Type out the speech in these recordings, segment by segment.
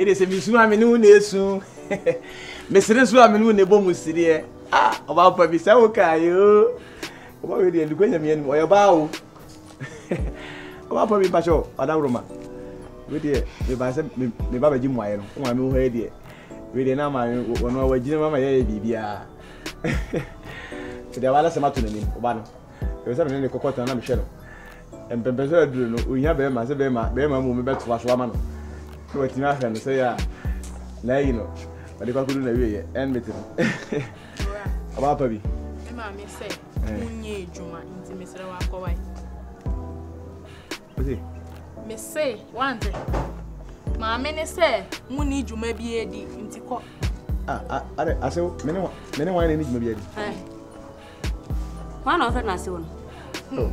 me de sɛ mesu a me ne wo na ɛsu mesere so a me ne wo na ɛbɔ mu sereɛ ah ɔba mpa bi sɛ wo kaeɛ o ɔba wei deɛ nukwa nyame anim ɔyɛ baa o ɔba mpa bi mpa kyɛ ɔdaworoma wei deɛ mebaa sɛ meba bɛgye mmuaeɛ no wo maame wo hɔ yɛ deɛ wei deɛ na ama wɔno a wagyina mu ama yɛyɛ biribiaa nti deɛ wala sɛm ato n'anim ɔba no ɛwɔ sɛ mene ne kɔkɔ tena na mehwɛ no mpɛmpɛ so aduru no ohia bɛrima sɛ bɛrima bɛrima mu mebɛtoa so ama no na watumi ahwɛ no sɛ yɛ a na ayi no ɔde kɔ akɔdu na wieɛ ɛn mete no ɔba pa bi me maame sɛ wonyɛ adwuma nti mesrɛ wakɔwae Mese wante. Maame ne sɛ mo ni dwuma bi adi nti kɔ. Ah, ah, are ase wo mene wa mene wa na ni dwuma bi adi. Ɛ. Wɔn na ɔfrɛ no ase wo no. Oh.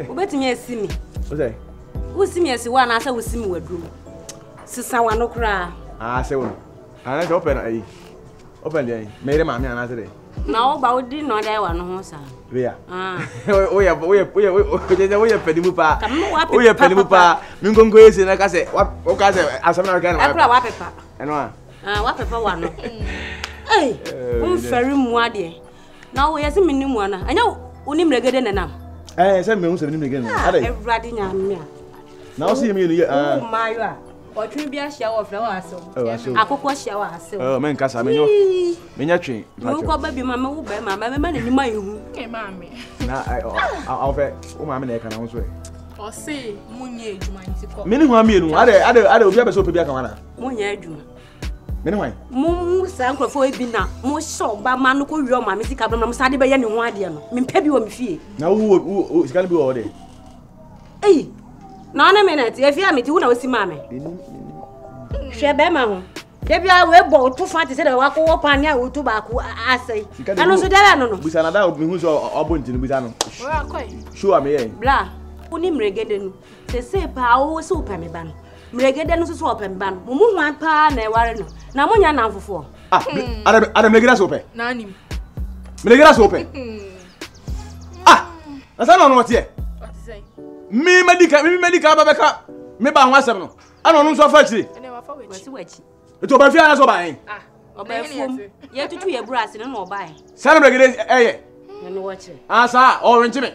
Wobɛtumi asi mi. O sɛ. Wosi mi asi wo anaasɛ wosi mi waduro mu. Sisa wano koraa. Ah, ase wo no. Anaasɛ wopɛ no ayi. Wopɛ deɛ meyere maame anaasɛ deɛ. Na wo ba wo di no dai wa no ho sa. Leah. Ah. Wo ye wo ye wo ye wo ye panimu pa. Wo ye panimu pa. Mi nkonko ye se na ka se wa wo ka se asem na ka na. Akura wa pepa. Eno a. Ah wa pepa wa no. Ei. Wo feri mu ade. Na wo ye se mi ni mu ana. Anya wo ni mregede na nam. Eh se mi hu se mi ni mregede na. Ade. Ewrade nya me a. Na wo se mi ni ye. Ah. Wo ma yo a. Ɔtwe bi ahyia wɔ fɛ wɔ asew. Akokɔ ahyia wɔ asew. Ɛɛ mɛ nkasa mɛ nyɔ mɛ nya twe. Mɛ wokɔ bɛ bi ma mɛ wo bɛ ma mɛ mɛ ma ne nima yi hu. Ee maame. Na ɛ ɔ awo fɛ wo maame na ɛka na ho so ɛ. Ɔse mo nyɛ adwuma nti kɔ. Mene hwan mmienu adɛ adɛ adɛ obi abɛsɛ ope bi aka wana. Mo nyɛ adwuma. Mene hwan. Mo mo saa nkurɔfoɔ ebi na mo hyɛ ɔba ma no kɔ wia ɔmaame sika bɛma mo saa de bɛyɛ ne ho adeɛ no mempɛ bi wɔ me fie. Na wo wo sika no bi wɔ hɔ dɛ. eyi na ɔne me na ɛte efi a mete wo na osi maa me hwɛ bɛrima ho dabi a wɔabɔ woto fa te sɛ dɛ wakɔwɔ paa ne a woto baako asɛe ɛno nso dɛbɛ no no busa na da mehu sɛ ɔbɔ nti no busa no show a meyɛ bla wo ne mmerɛgɛdɛ no sɛsei paa wo sɛ wopɛ me ba no mmerɛgɛdɛ no nso so ɔpɛ me ba no mo mu hwan paa na ɛware no na monya namfofoɔ ah, hmm. ada mmerɛgɛdɛ sɛ wopɛ mmerɛgɛdɛ sɛ wopɛ hmm. ah ɛsɛ na ɔno ɔteɛ mi medical mi medical bɛ bɛ ka mi ba ho asɛm no ɛna ɔno nso afa akyire etu ɔbɛ fi ara sɛ ɔbaa yɛn. ɔbɛ fom yɛ tutu yɛ buru ase ne na ɔbaa yɛn. sani bɛ gede ɛyɛ. ɛnu wɔ kyerɛ. asa ɔwɔ nkyɛn.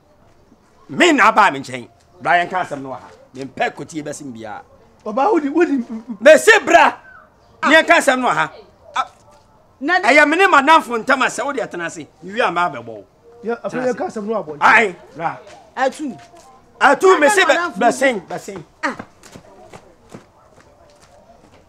Me na abaa me nkyɛn. Bra yɛn ka asɛm no wɔ ha. Me mpɛ kotie bɛsɛm biara. Ɔbaa wodi wodi. Mesi bra. Ah. Yɛn ka asɛm no wɔ ha. Ah. Ɛyɛ me ne madamfo ntam asɛ wode ɛtena ase. Mewie a maa bɛbɔ wo. Afei yɛn ka asɛm no abɔ. Ae. Bra. Atu. Atu mesi bɛsen bɛsen. Ah.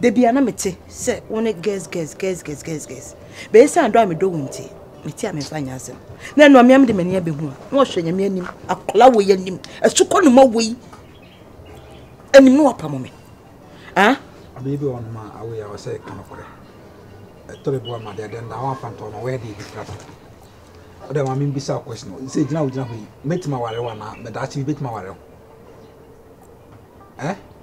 Da biara na mete sɛ wo ne gɛs gɛs gɛs gɛs gɛs gɛs. Bɛyɛ sɛ adɔ a medɔ wo nti, mete a memfa nyɛ asɛm. Na ɛno amea mede m'ani abɛhu a, na ɔhwɛ nyame anim, akɔla wei anim, asukɔ no ma wei anim na wapamo me. Ah? Biribi wɔ nom a awei a ɔsɛ ka nokorɛ. Ɛtɔre bi wɔ ma deɛ dɛn da wɔn afantɔ no wɔyɛ deɛ bi kura pɛ. Ɔdɛ ma membisa wo question no, sɛ gyina wo gyina hɔ yi, mɛtumi aware wo anaa mɛdaakye bi bɛtumi aware wo? Eh?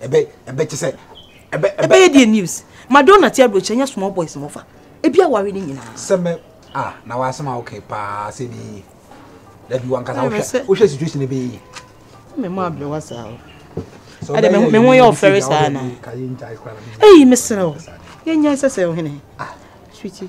ɛbɛ ɛbɛ kyɛ sɛ ɛbɛ ɛbɛ yɛ deɛ news madonna ti aburokyɛ nyɛ small boys mɔfa ebi awari ne nyinaa. sɛmɛ a na wasɛm a okay paa sɛ bi yi dabi wankasa wohwɛ wohwɛ situation bi yi. mɛ mo abirɛ wa saa o ɛdɛ mɛ mɛ ho yɛ ɔfɛre saa na eyi mesrɛ o yɛ nya sɛ sɛ ɔhene sweetie.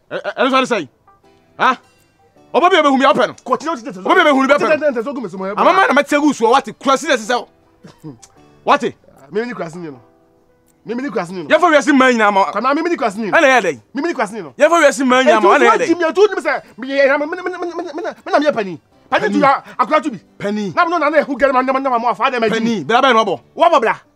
ɛno sɛ ne sɛn ha ɔba bi a bɛhu mi apɛ no ɔba bi a bɛhu no bɛpɛ no amama na mɛtɛ gu soɔ wate kurase na ɛsɛ sɛ wate memene kurase ni no mimi ni kurase ni no yɛfa wiase mmaa nyinaa ma kɔnɔ mimi ni kurase ni no ɛna yɛ dɛ mimi ni kurase ni no yɛfa wiase mmaa nyinaa ma ɛna yɛ dɛ ɛtu ɛtu ɛtu sɛ meyɛ mena meyɛ pani pani tu akora tu bi pani na mena na ɛho gɛrɛ ma nyama nyama mo afa dɛ ma pani bra bɛn no abɔ wabɔ bra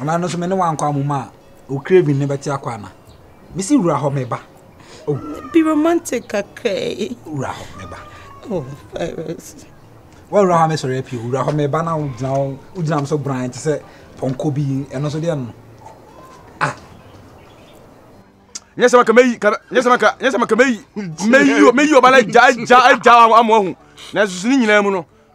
Anaa ɛno nso me ne wankɔ amomu a o craving no bɛte akɔ ana mesi wura hɔ meba o oh. be romantic kakra yi wura hɔ meba o oh, virus wɔ wura hɔ mɛsɔre apie wura hɔ meba na wogyina hɔ wogyina m so bran te sɛ pɔnkɔ bi ɛno nso deɛ no ah nyɛ sɛ maka mɛyi nyɛ sɛ maka nyɛ sɛ maka mɛyi mɛyi mɛyi ɔba no agya agya agya amoahu nanso so ne nyinaa mu no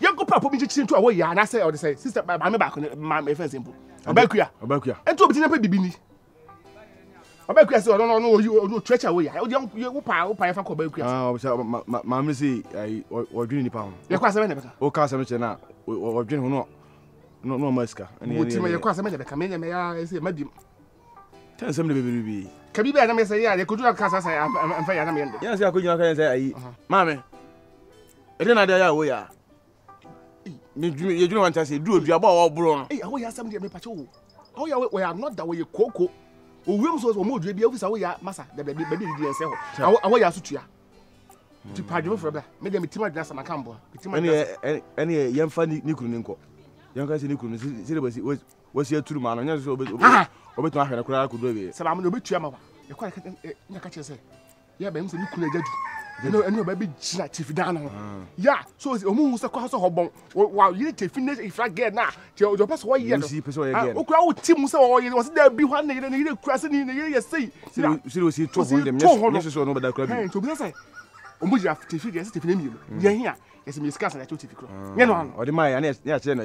Yɛn kɔ papo bi kyekyere ntu a wɔyɛ a n'asɛ ɔde sɛ sista maame baako ne maame efɛn sɛ mpo ɔbɛkuya ɔbɛkuya nti obi ti na pɛ bibi ni ɔbɛkuya sɛ ɔno ɔno oyi ɔno church a wɔyɛ ɔdi yɛ wo paa wo paa yɛ fa kɔ ɔbɛkuya sɛ ah ɔbɛsɛ maame sɛ ayi ɔdwene nipa ho yɛ kɔ asɛm na bɛka o ka asɛm kyerɛ na ɔdwene ho no no no ɔma sika ɛni ɛni ɛni mo ti ma yɛ kɔ asɛm na bɛka mɛ nyɛ mɛ ya ɛsɛ mɛ di Ka nsɛm de bɛbiri bi. Ka biribi a nam yɛ sɛ yɛ a yɛ kojú aka saa sɛ ɛmfa yɛ a nam yɛ no de. Yɛ a sɛ akojú aka yɛ sɛ ayi. Maame, ɛdɛ na ade ayɛ a wo yɛ a. Yɛ dwene wante ase, duru oduabɔ a wɔboro no. Ei, a wo yɛ asɛm deɛ me pakyɛ wo. A wo yɛ a wɔyɛ anɔda wɔyɛ kooko. Owuram so wɔn odua bi, ofisa wo yɛ a masa, dabi dabi, baabi a didi yɛn sɛ hɔ. A wo yɛ a so tua. Nti pa adwene foforɔ bra, me deɛ me tim adwene asɛm aka mboa. Me tim adwene asɛm. Ɛne yɛmfa ne kunu ne nkɔ. Yɛnka sɛ ne kunu ne sɛ de basi. wasi aturu ma no nyɛ sɛ ɔbɛtumi ahwɛ no koraa kɔdu awie sɛ maame no ɔbɛtua ma wa ɛkɔ na ka kyerɛ sɛ yɛ bɛm sɛ ne kunu agya du ɛne ɛne ɔbɛ bi gyina tifi dan no ho ya so ɔmu hu sɛ kɔ sɛ ɔbɔn wa yere tifi ne ifra gɛ na kyɛ ɔdɔ pɛ sɛ ɔyɛ no ɔkura wo ti mu sɛ ɔyɛ ɔsɛ dɛ bi hɔ ne yere ne yere kura sɛ ne yere yɛ sei sɛ ɔsi to ho ndɛm nyɛ sɛ ɔno bɛda kura bi nti obi sɛ ɔmu gyina tifi deɛ sɛ tifi ne mmienu deɛ hia yɛsɛ mmiɛ sika sɛ yɛkyɛ tifi korɔ nyɛ no ano ɔde ma yɛ ne yɛkyerɛ no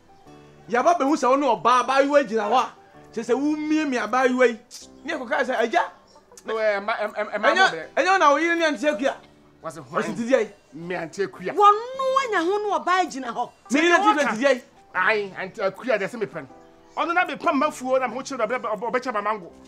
Yɛaba abehu sɛ wo ne ɔbaa abaayewa yi gyina hɔ a, kyerɛ sɛ wumiamia abaayewa yi. Ne kɔkae sɛ, Agya, ɛnyɛ wo na wo yere ne Ante Akua? Ɔse, Ntedeɛn? Me Ante Akua. Wɔno anya ho ne ɔbaa yi gyina hɔ. Me yere Ante Akua ntedeɛn? Ae, Ante Akua deɛ se mepɛ no. Ɔno na mepam m'afuo na mehokyere no berɛ a ɔbɛkyɛ m'amango.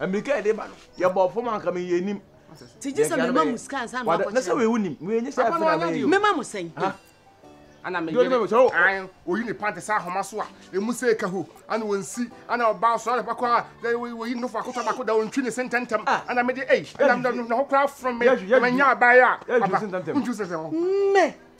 Mmirika yɛde ba no yɛ bɔ fam anka mi yɛ nim. Ti gye sɛ mi ma mu sika ansa na akɔkyerɛ. Ne sɛ wei nim wei nye sɛ ɛfɛ na mɛ yi. Mi ma mu sɛn. Ana mi yɛ sɛ o. Ayi oyi ne pante sɛ ahoma so a emu sɛ eka ho ana wɔn si ana ɔbaa sɔrɔ ne pako a oyi ne fɔ akotɔ baako da wɔn twi ne se ntɛntɛm ana mi de eyi ana mi na ho kura from mi ma nya abaa yi a aba ntwi sɛ sɛ hɔ. Mɛ